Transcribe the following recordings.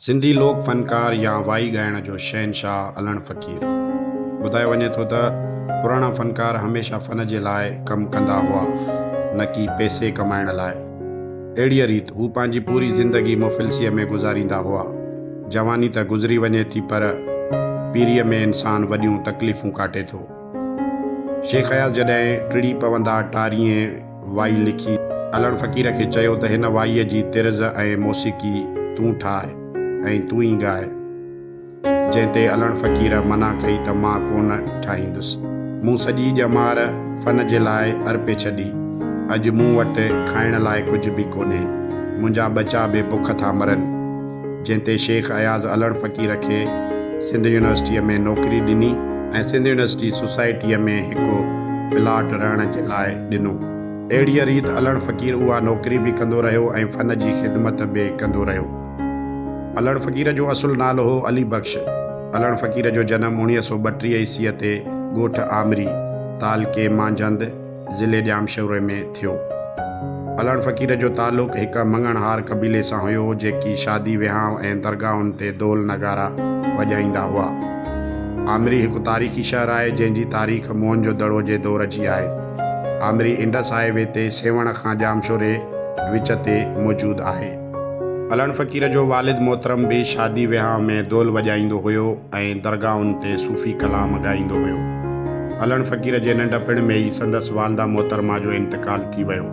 سنڌي لوڪ فنڪار يا وائي ڳائڻ جو شهنشاهه علڻ فقير. ٻڌايو وڃي ٿو ته پراڻا فنڪار هميشه فن جي لاء ڪم ڪندا هئا نه ڪي پئسي ڪمائڻ لاء. اهڙيء ريت هو پنهنجي پوري زندگي مفلسيء ۾ گذاريندا هئا. جواني ته گذري وڃي ٿي پر پيريء ۾ انسان وڏيون تڪليفون ڪاٽي ٿو. شيخ اياز جڏهن ٽڙي پوندا ٽارينء. وائي لکي علڻ فقير کي چيو ته هن وائيء جي طرز ۽ موسيقي تون ٺاهه ۽ تون ئي ڳاء. جنهن تي علڻ فقير منع ڪئي ته مان ڪونه ٺاهيندس. مون سڄي ڄمار فن جي لاء ارپي ڇڏي. اڄ مون وٽ کائڻ لاء ڪجهه به ڪونهي. منهنجا ٻچا به بک ٿا مرن. جنهن تي شيخ اياز علڻ فقير کي سنڌ يونيورسٽيء ۾ نوڪري ڏني ۽ سنڌ يونيورسٽي سوسائٽيء ۾ هڪ پلاٽ رهڻ جي لاء ڏنو. اهڙيء ريت علڻ فقير اها نوڪري به ڪندو رهيو ۽ فن جي خدمت به ڪندو رهيو. علڻ فقير جو اصل نالو هو علي بخش. علڻ فقير جو جنم اوڻيهه سؤ ٻٽيهه عيسيء تي ڳوٺ آمري، تعلقي مانجهند، ضلعي ڄامشوري ۾ ٿيو. علڻ فقير جو تعلق هڪ مڱڻهار قبيلي سان هيو، جيڪي شادي وهانء ۽ درگاهن تي دول نغارا وڄائيندا هئا. آمري هڪ تاريخي شهر آهي، جنهن جي تاريخ موهن جو دڙو جي دور جي آهي. آمري انڊس هاء وي تي سيوهڻ کان ڄامشوري وچ تي موجود آهي. علڻ فقير جو والد محترم به شادي ويهانء ۾ دول وڄائيندو هيو ۽ درگاهن تي صوفي ڪلام ڳائيندو هيو. علڻ فقير جي ننڍپڻ ۾ ئي سندس والده محترمه جو انتقال ٿي ويو،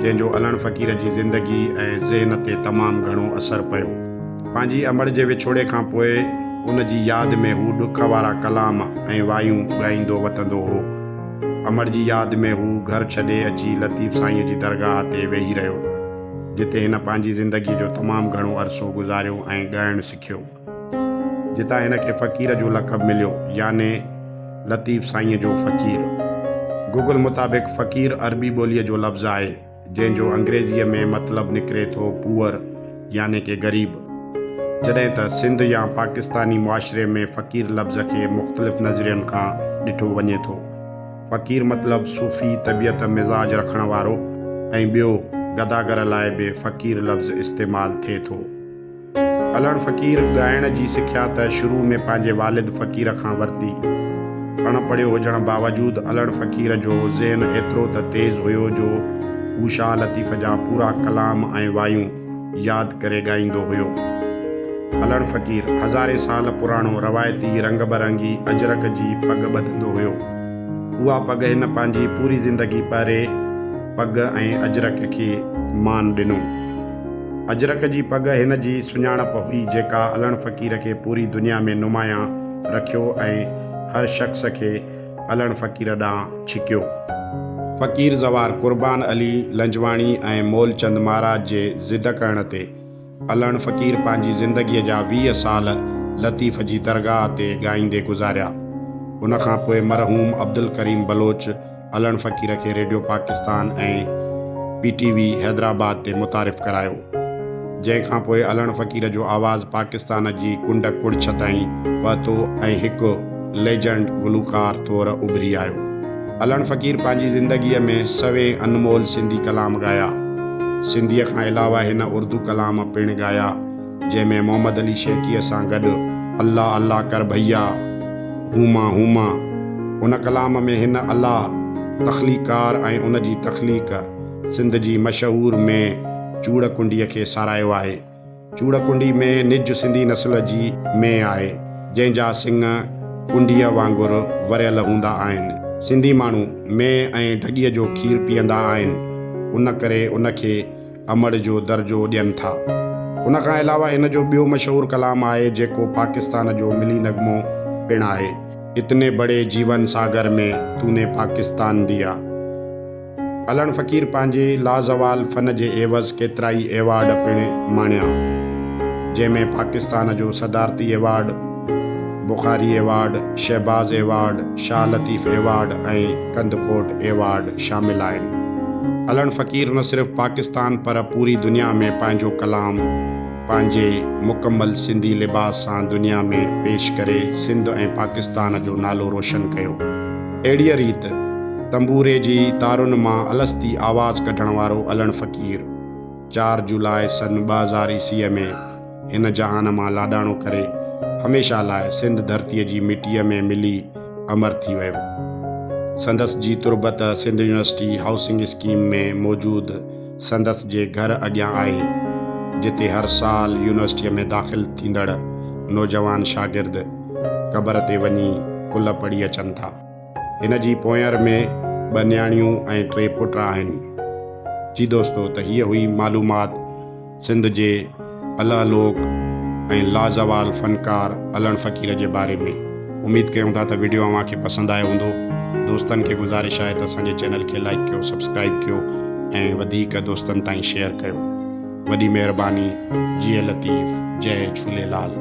جنهن جو علڻ فقير جي زندگي ۽ ذهن تي تمام گهڻو اثر پيو. پنهنجي امڙ جي وڇوڙي کان پوء ان جي ياد ۾ هو ڏک وارا ڪلام ۽ وايون ڳائيندو وتندو هو. امڙ جي ياد ۾ هو گهر ڇڏي اچي لطيف سائينء جي درگاهه تي ويهي رهيو. جتي هن پنهنجي زندگيء جو تمام گهڻو عرصو گذاريو ۽ ڳائڻ سکيو. جتان هن کي فقير جو لقب مليو يعني لطيف سائينء جو فقير. گوگل مطابق فقير عربي ٻوليء جو لفظ آهي، جنهن جو انگريزيء ۾ مطلب نڪري ٿو Poor يعني ڪي غريب. جڏهن ته سنڌ يا پاڪستاني معاشري ۾ فقير لفظ کي مختلف نظرين کان ڏٺو وڃي ٿو. فقير مطلب صوفي طبيعت مزاج رکڻ وارو ۽ ٻيو گداگر لاء به فقير لفظ استعمال ٿئي ٿو. علڻ فقير ڳائڻ جي سکيا ته شروع ۾ پنهنجي والد فقير کان ورتي. اڻ پڙهيو هجڻ باوجود علڻ فقير جو ذهن ايترو ته تيز هيو جو هو شاهه لطيف جا پورا ڪلام ۽ وايون ياد ڪري ڳائيندو هيو. علڻ فقير هزارين سال پراڻو روايتي رنگ برنگي اجرڪ جي پڳ ٻڌندو هيو. اها پڳ هن پنهنجي پوري زندگي پهري پڳ ۽ اجرڪ کي مان ڏنو. اجرڪ جي پڳ هن جي سڃاڻپ هئي جيڪا علڻ فقير کي پوري دنيا ۾ نمايان رکيو ۽ هر شخص کي الهڻ فقير ڏانهن ڇڪيو. فقير زوار قربان علي لنجواڻي ۽ مولچند مهاراج جي ضد ڪرڻ تي الهڻ فقير پنهنجي زندگيء جا ويهه سال لطيف جي درگاهه تي ڳائيندي گذاريا. ان کان پوء مرحوم عبدالڪريم بلوچ الهڻ فقير کي radio Pakistan ۽ P T V Hyderabad تي متعارف ڪرايو. جنهن کان پوء الهڻ فقير جو آواز پاڪستان جي ڪنڊ ڪڙڇ تائين پهتو ۽ هڪ ليجنڊ گلوڪار طور اڀري آيو. الهڻ فقير پنهنجي زندگيء ۾ سوين انمول سنڌي ڪلام ڳايا. سنڌيء کان علاوه هن اردو ڪلام پڻ ڳايا، جنهن ۾ محمد علي شيخيء سان گڏ الله الله ڪر ڀئيا، هوما هوما. ان ڪلام ۾ هن الله، تخليقڪار ۽ ان جي تخليق، سنڌ جي مشهور ۾ چوڙ ڪنڊي کي ساراهيو آهي. چوڙ ڪنڊي ۾ نج سنڌي نسل جي مينهن آهي، جنهن جا سڱ ڪنڊيء وانگر وريل هوندا آهن. سنڌي ماڻهو مينهن ۽ ڍڳيء جو کير پيئندا آهن، ان ڪري ان کي امڙ جو درجو ڏين ٿا. ان کان علاوه هن جو ٻيو مشهور ڪلام آهي، جيڪو پاڪستان جو ملي نغمو پڻ آهي، اتني بڙي جيون ساگر ۾ تون ني پاڪستان ديا. علڻ فقير پنهنجي لازوال فن جي عيوض ڪيترائي ايوارڊ پڻ ماڻيا، جنهن ۾ پاڪستان جو صدارتي award, Bukhari award, Shahbaz award, Shah Latif award ۽ Kandhkot award شامل آهن. علڻ فقير نه صرف پاڪستان پر پوري دنيا ۾ پنهنجو ڪلام، پنهنجي مڪمل سنڌي لباس سان دنيا ۾ پيش ڪري سنڌ ۽ پاڪستان جو نالو روشن ڪيو. اهڙيء ريت تنبوري جي تارن مان الستي آواز ڪڍڻ وارو علڻ فقير چار جولاء سن ٻه هزار عيسويء ۾ هن جهان مان لاڏاڻو ڪري هميشه لاء سنڌ ڌرتيء جي مٽيء ۾ ملي امر ٿي ويو. سندس جي تربت سنڌ يونيورسٽي هائوسنگ اسڪيم ۾ موجود سندس جي گهر اڳيان آهي، جتي هر سال يونيورسٽيء ۾ داخل ٿيندڙ نوجوان شاگرد قبر تي وڃي ڪلهه پڙهي اچن ٿا. هن جي پونئر ۾ ٻه نياڻيون ۽ ٽي پٽ آهن. جي دوستو ته هيء هئي معلومات سنڌ جي الله لوڪ ۽ لازوال فنڪار علڻ فقير جي باري ۾ اميد ڪيون ٿا ته وڊيو اوهان کي پسند آيو هوندو دوستن کي گذارش آهي ته اسان جي چينل کي لائيڪ ڪيو سبسڪرائيب ڪيو ۽ وڌيڪ دوستن تائين شيئر ڪيو وڏي مهرباني جيئي لطيف جئي جهوليلال.